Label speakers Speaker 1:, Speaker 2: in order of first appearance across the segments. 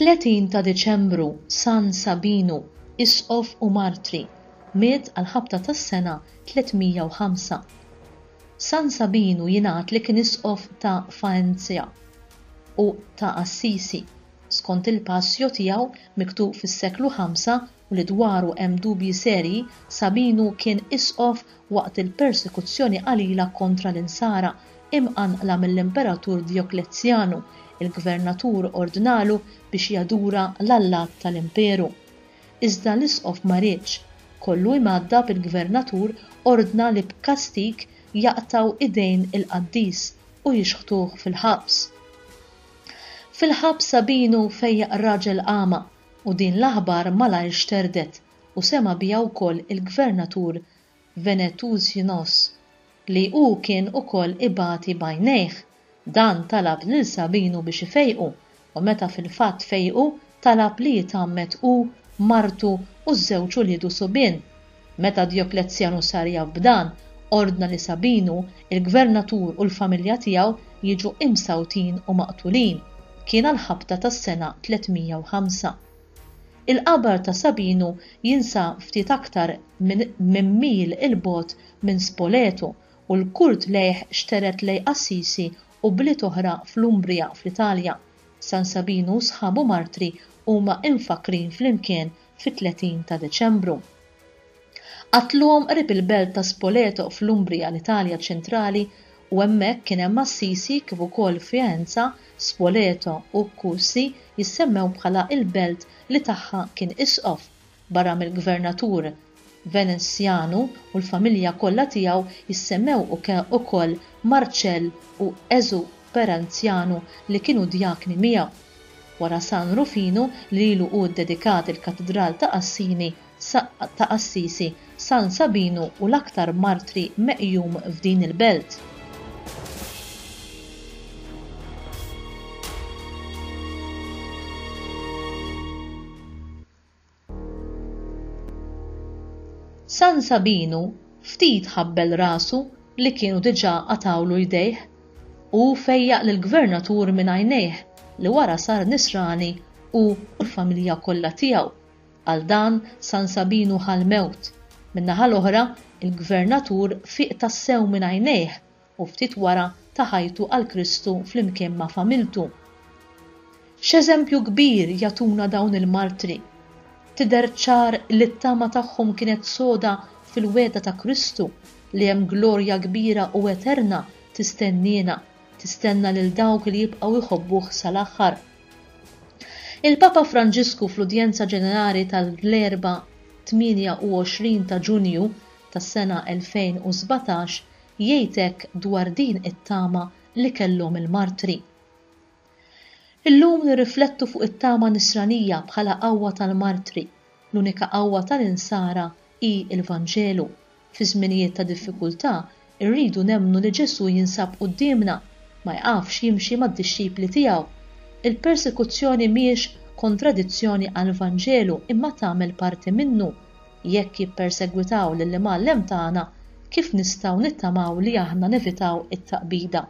Speaker 1: 30 ta' Diċembru San Sabinu, Isqof u Martri, miet għal ħabta tas-sena 305. San Sabinu jingħad li kien Isqof ta' Faenzja u ta' Assisi. skont il-Passio tiegħu miktub fis-seklu ħamsa u li dwaru hemm dubji serji, Sabinu kien isqof waqt il-persekuzzjoni qalila kontra l-Insara, imqanqla mill-Imperatur Dioklezzjanu, il-gvernatur ordnalu biex jadura l-allat tal-imperu. Iżda l-isqof ma riedx. Kollu imgħaddab il-gvernatur ordna li b'kastig jaqtgħu idejn il-qaddis u jixħtuh fil-ħabs. Fil-ħabs Sabinu fejjaq raġel agħma u din l-aħbar malajr xterdet u sema' biha wkoll il-Gvernatur Venetusinos li hu kien ukoll ibati b'għajnejh. Dan talab lil Sabinu biex ifejqu u meta fil-fatt fejqu talab li jitgħammed hu, martu u ż-żewġ uliedu subien. Meta Djoklezzjanu sar jaf b'dan, ordna li Sabinu, il-gvernatur u l-familja tiegħu jiġu imsawtin u maqtulin. Kien għall-ħabta tas-sena 305. Il-qabar ta' Sabinu jinsab ftit aktar minn mil 'il bogħod minn Spoleto u l-Kurt lejh xtered lejh Assisi u bliet oħra fl-Umbria fl-Italja. San Sabinu u sħabu martri huma imfakkrin flimkien fit-30 ta' Deċembru. Qatluhom qrib il-belt ta' Spoleto fl-Umbria, l-Italja ċentrali, u hemmhekk kien hemm Assisi kif ukoll Faenza, Spoleto u Cussi jissemmew bħala il-belt li tagħha kien isqof. barra mill-gvernatur Venezjanu u l-familja kollha tiegħu jissemmew ukoll Marcell u Ezu Peranzjanu li kienu djakni miegħu. Wara San Rufinu li lilu hu ddedikat il-Katidral ta' Assini, ta' Assisi, San Sabinu u l-aktar martri meqjum f'din il-belt. San Sabinu ftit ħabbel rasu li kienu diġà qatgħulu jdejh. Hu fejjaq lill-Gvernatur minn għajnejh li wara sar nisrani hu u l-familja kollha tiegħu. Għal dan San Sabinu ħa l-mewt. Min-naħa l-oħra, il-Gvernatur fieq tassew minn għajnejh u ftit wara ta ħajtu għal Kristu flimkien ma' familtu. X'eżempju kbir jagħtuna dawn il-martri! Tidher ċar li t-tama tagħhom kienet soda fil-wegħda ta' Kristu li hemm glorja kbira u eterna tistenniena, tistenna lil dawk li jibqgħu jħobbuh sal-aħħar. Il-Papa Franġisku fl-Udjenza Ġenerali tal-Erbgħa 28 ta' Ġunju tas-sena 2017 jgħid hekk dwar din it-tama li kellhom il-martri. Illum nirriflettu fuq it-tama Nisranija bħala qawwa tal-martri, l-unika qawwa tal-Insara hi l-Vanġelu. Fi żminijiet ta' diffikultà rridu nemmnu li Ġesù jinsab quddiemna, ma jqafx jimxi mad-dixxipli tiegħu. Il-persekuzzjoni mhiex kontradizzjoni għall-Vanġelu imma tagħmel parti minnu, Jekk jippersegwitaw lill-Imgħallem tagħna, kif nistgħu nittamaw li aħna nevitaw it-taqbida?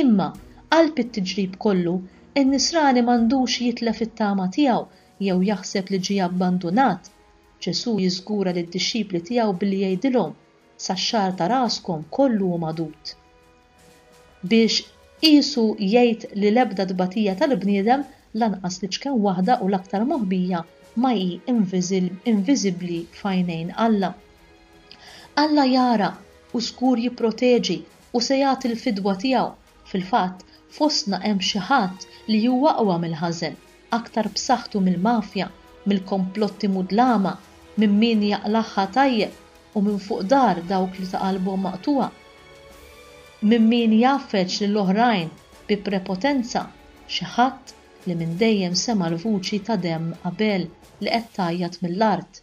Speaker 1: Imma, qalb it-tiġrib kollu, in-nisrani m'għandux jitlef it-tama tiegħu jew jaħseb li ġie abbandunat. Ġesù jiżgura lid-dixxipli tiegħu billi jgħidilhom, Sax-xagħar ta' raskom kollu hu magħdud. biex qisu jgħid li l-ebda tbatija tal-bniedem, lanqas l-iċken waħda u l-aktar moħbija, ma hi inviżibbli f'għajnejn Alla. Alla jara, u żgur jipproteġi, u se jagħti l-fidwa tiegħu. Fil-fatt, fostna hemm xi ħadd li hu aqwa mill-ħażen, aktar b'saħħtu mill-mafja, mill-komplotti mudlama, minn min jaqlagħha tajjeb u minn fuq dahar dawk li ta' qalbhom maqtugħa, minn min jgħaffeġ lil oħrajn bi prepotenza, xi ħadd li minn dejjem sema' l-vuċi ta' demm Abel li qed tgħajjat mill-art.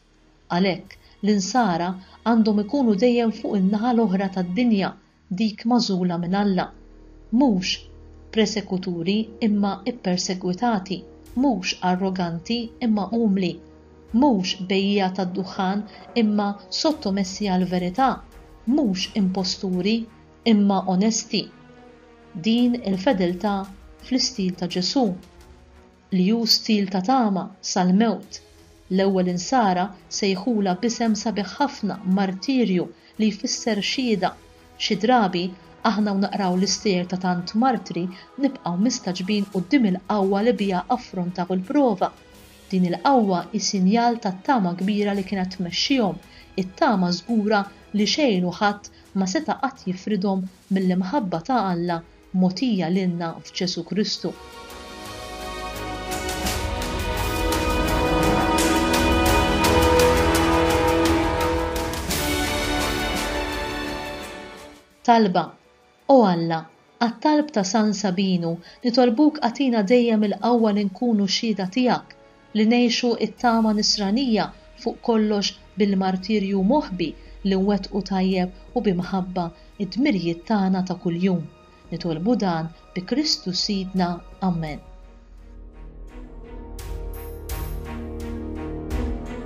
Speaker 1: Għalhekk, l-Insara għandhom ikunu dejjem fuq in-naħa l-oħra tad-dinja dik magħżula minn Alla, mhux presekuturi imma ppersegwitati, mhux arroganti imma umli, mhux bejjiegħa tad-duħħan imma sottomessi għall-verità, mhux imposturi imma onesti. Din il-fedeltà fl-istil ta' Ġesù. li hu stil ta' tama sal-mewt. L-ewwel insara sejħulha b'isem sabiħ ħafna, martirju, li jfisser xhieda. Xi drabi, aħna u naqraw l-istejjer ta' tant martri nibqgħu mistagħġbin quddiem il-qawwa li biha affrontaw il-prova. Din il-qawwa hi sinjal tat-tama kbira li kienet tmexxihom, it-tama żgura li xejn u ħadd ma seta' qatt jifridhom mill-imħabba ta' Alla mogħtija lilna f'Ġesù Kristu. Talba, O Alla, għat-talb ta' San Sabinu, nitolbuk agħtina dejjem il-qawwa li nkunu xhieda tiegħek, li ngħixu t-tama Nisranija fuq kollox bil-martirju moħbi li nwettqu tajjeb u bi mħabba d-dmirjiet tagħna ta' kuljum. Nitolbu dan bi Kristu Sidna. Amen.